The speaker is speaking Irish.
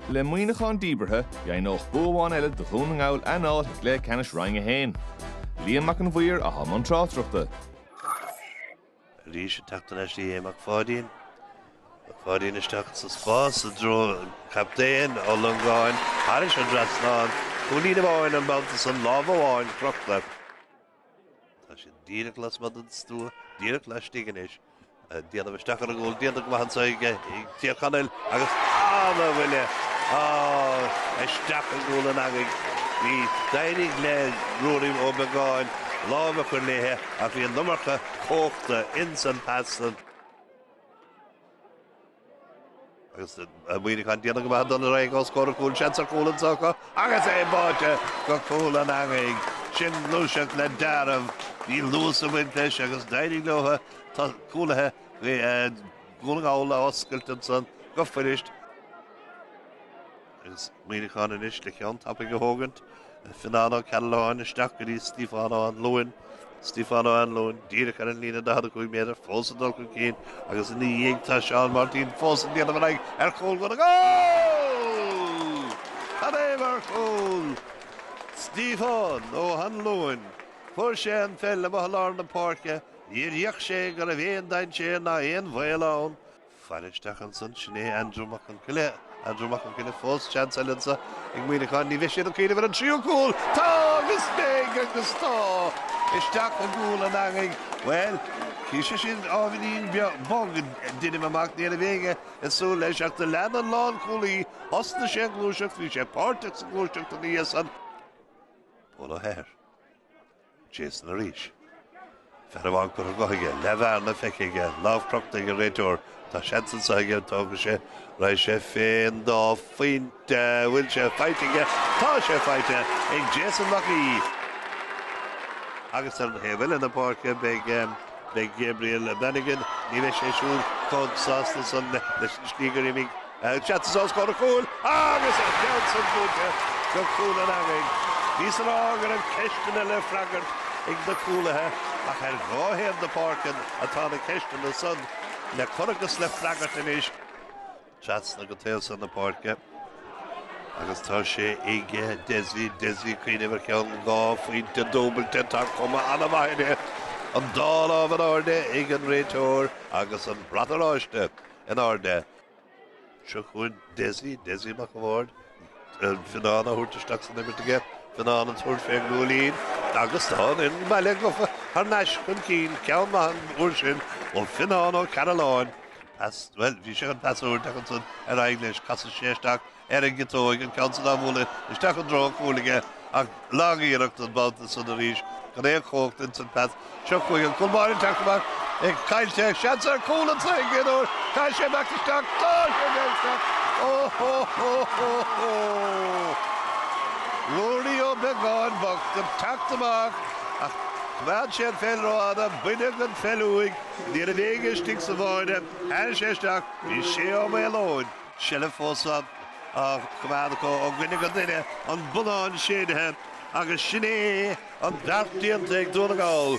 Le Muineachán díbeartha, dheimhneodh bua amháin eile do Dhún na nGall a n-áit i gcluiche ceannais Roinn 1. Liam Mac an Mhaoir atá i mbun tráchtaireachta. Arís ag teacht ar ais go dtí Mac Pháidín. Mac Pháidín isteach sa spás i dtreo captaen Ó Longáin. Thairis an dtrasnán. Cúilín amháin an babhta san lámh amháin crochta. Tá sé díreach lasmuigh den stua, díreach laistigh anois. Ag déanamh isteach ar an gcúl, déanta go maith anseo ag Tír Chonaill agus an-bhuille isteach i gcúl an eangaigh. Bhí d'éirigh le Ruairí Ó Beagáin lámh a chur léithe ach bhí an iomarca cumhachta ins an pas san. Agus Muineachán déanamh go maith dul ar aghaidh os comhair an chúil seans ar chúl anseo acu agus é báite go cúl an eangaigh. Sin gluaiseacht le dealramh. Bhí luas ag baint leis agus d'éirigh leothu cúlaithe Dhún na nGall a oscailt ansan go fuirist. Agus Muineachán anois le ceann tapaidh a thógaint, Fionnán Ó Cearbhalláin isteach go dtí Stíofán Ó hAnluain, Stíofán Ó hAnluain díreach ar an líne 45 méadar, fós ag dul chun cinn agus ina dhiaidh tá Seán Máirtín fós ag déanamh ar aghaidh ar chúl Dhún na nGall! Cad é mar chúl! Stíofán Ó hAnluain, fuair sé an pheil amuigh i lár na páirce, níor fhéach sé go raibh aon dainséar ná aon bhaol ann, Fan isteach ansan, sin é Andrew Mac Con Coille. Andrew Mac Con Coille fós, seans eile anso ag Muineachán, ní bheidh siad ag cuimhneamh ar an tríú cúl! Tá! Agus beidh! Agus tá! Isteach i gcúl an eangaigh. Bhuel, bhí sé sin ábhairín beag, bog, deinim amach, ní raibh éinne ag súil leis, ach do lean an lánchúlaí, thosnaigh sé an ghluaiseacht, bhí sé páirteach sa ghluaiseacht ina dhiaidh san. Pól Ó hEithir. Jason arís. Fear amháin curtha dhe aige, leathbhearna feicthe aige, lámh crochta ag an réiteoir. Tá seans anseo aige, tógfaidh sé, raghaidh sé fé an dá phointe, bhfuil sé faighte aige? Tá sé faighte ag Jason Mac Aoidh! Agus ar an dtaobh eile na páirce beidh, beidh Gabriel Bannigan, ní bheidh sé siúd chomh sásta san leis an slí gur imigh, Seansanna os comhair an chúil agus an ceann san buailte go cúl an eangaigh. Bhíos ag rá go raibh ceisteanna le freagairt ag na cúlaithe ach ar dhá thaobh na páirce atá na ceisteanna san le cur agus le freagairt anois. Trasna go taobh san na páirce agus tá sé ag Dessie, Dessie cuimhneamh ar cheann dhá phointe dúbailte, tá cuma an-mhaith air. An dá lámh in airde ag an réiteoir agus an brat oráiste in airde. Seo chugainn Dessie, Dessie Mac an Bhaird, Fionnán á thabhairt isteach san imirt aige, Fionnán ag tabhairt fé chúilín agus tá an fhoireann baile gafa thar n-ais chun cinn, ceann maith an uair sin ó Fionnán Ó Cearalláin. Bhuel, bhí sé chun pas a thabhairt ach ansan ar aghaidh leis, casfaidh sé isteach ar an gciotóig, an ceann san á bhualadh isteach i dtreo an chúil aige, ach lagiarracht an babhta san arís gan aon chomhacht ins an phas. Seo chugainn an cúl báire ag teacht amach, é caillte, seans ar chúl anseo don gcéad uair, caithfidh sé imeacht isteach, tá sé ag imeacht isteach, óhóhóhóhó! Ruairí Ó Beagáin bocht ag teacht amach, ach choimeád sé an pheil ró-fhada, baineadh an pheil uaidh, ní raibh éinne istigh sa bhaile, chuir sé isteach í, Shea Ó Maoleoin. seilbh fós á coimeád acu ó dhuine go duine, an bonnán séidthe agus sin é an beart déanta ag Dún na nGall.